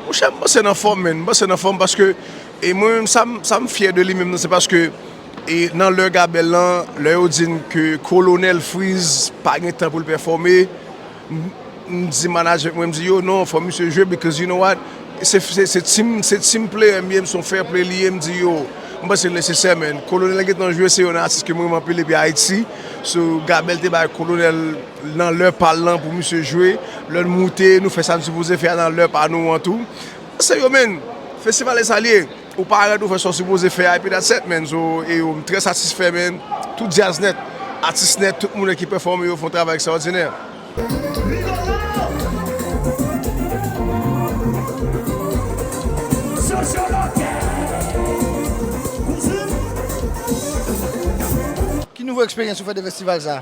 Monchè m panse nan fòm menn, m panse nan fòm paske e mwen menm sa m sa m fyè de li menm nan se paske e nan lè Gabèl lan lè yo di n ke Kolonèl Fritz pa gen tan pou l pèfòme M di management mwen m di yo non fò misye jwe because you know what se team se team player m ye m son fair play li ye m di yo m panse l nesesè man kolonel gentan jwe se yon nan atis ke m renmen anpil depi Ayiti so Gabel te bay kolonel nan lè pa l lan pou misye jwe lè n moute nou fè sa n sipoze fè a nan lè pa nou an tou se yo man festival e sa l ye. Ou pa red ou fè sa w sipoze fè a epi that's et menn so eyo m trè satisfè menn tout djazz nèt atis nèt tout moune ki pèfòme yo fon travay ekstrawòdinè. Ki nouvo eksperyans ou fè de festival sa?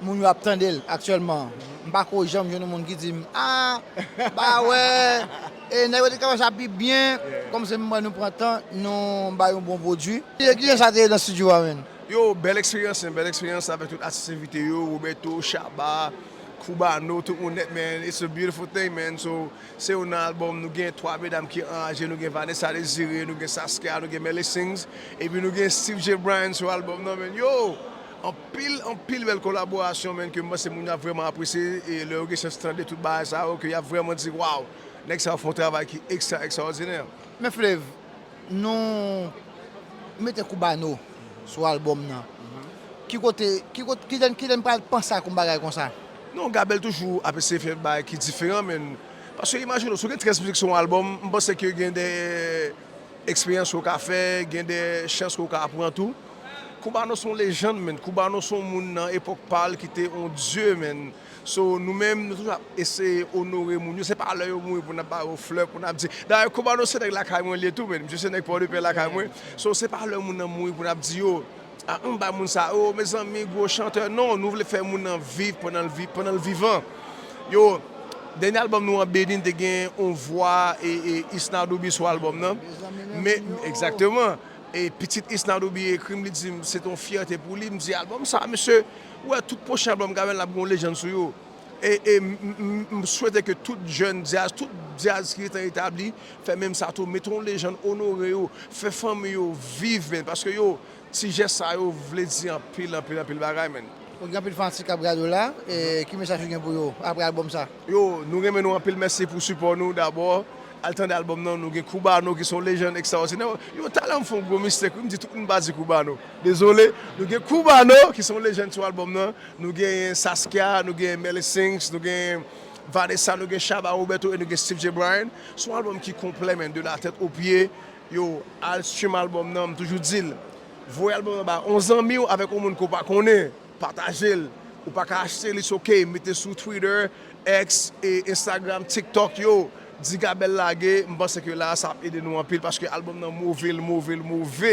Moun yo ap tande l aktyèlman. M pa ko janm jwenn yon moun ki di m, ah, ba wè, e nèg yo te ka fè sa pi byen. Kòm se m wè nou pran tan, nou bay yon bon pwodui. Yo kijan sa te ye nan studio a menn? Yo, bèl eksperyans menn, bèl eksperyans avèk tout atis envite yo, Roberto, Shabba, Cubano, tout moun nèt menn, it's a beautiful thing menn, so se yon nan albòm nou gen 3 medam ki anraje, nou gen Vanessa Desiré, nou gen Saskia, nou gen Melly Sings, epi nou gen Steve J. Bryan sou albòm nan menn, yo! Anpil anpil bèl kolaborasyon menn ke m panse moun yo ap vrèman apresye e lè yo gen chans tande tout bagay sa yo ke y ap vrèman di waw nèg sa yo fè yon travay ki ekstra ekstraòdinè. Men Flev, nou mete Cubano sou album nan, ki kote, ki kote, ki lè, ki lè n pral panse ak yon bagay konsa? Non, Gabel toujou ap eseye fè bagay ki diferan menn, paske imajine w, si w gen 13 mizik sou yon album, m panse ke gen de eksperyans ke w ka fè, gen de chans ke w ka pran tou. Koubano son lejand menn. Koubano son moun nan epok pal ki te on dye menn. So nou menm nou toujou ap eseye onore moun yo se pa lè yo mouri pou nap ba yo flè pou nap di. Dayè koubano se nèg lakay mwen liye tou menn. Misye se nèg pòdepè lakay mwen. So se pa lè moun nan mouri pou nap di yo ah ann bay moun sa oo mezanmi gwo chantè non nou vle fè moun nan viv pandan l viv pandan l vivan. Yo dènye album nou an beni n te gen on vwa e e Isnardo Biswa album nan men egzakteman. E pitit Isnardo byen ekri m li di m se te yon fyète pou li, m di albòm sa mesye ou wè tout pwochen albòm Gavel la ap gen yon lejann sou yo e e m swete ke tout jèn djaz, tout djaz ki gentan etabli fè menm sa tou mete yon lejann onore yo, fè fanmi yo viv menn paske yo ti jès sa yo vle di anpil anpil anpil bagay menn. Ok gen anpil fanatik kap gade w la ki mesaj ou gen pou yo apre albòm sa? Yo nou renmen nou anpil mèsi pou sipò nou dabò. Al tande album nan nou gen Cubano ki se yon lejand ekstraòdinè. Yo tale m fè yon gwo mistake wi, m di tout moun pa di Cubano. Dezole. Nou gen Cubano ki se yon lejand sou album nan, nou genyen Saskia, nou genyen Melly Sings, nou genyen Vanessa, nou gen Shabba Roberto e nou gen Steve Jay Bryan. Se yon album ki konplè man, de la tèt o pye. Yow, al stream album nan, m toujou di l, voye album nan ba yon zanmi w avèk yon moun ke w pa konnen. Patajel ou paka achte li ok mete sou twitter, ex, instagram, tiktok yo di gabèl lage m panse ke la sa ap ede nou anpil paske album nan move l move l move.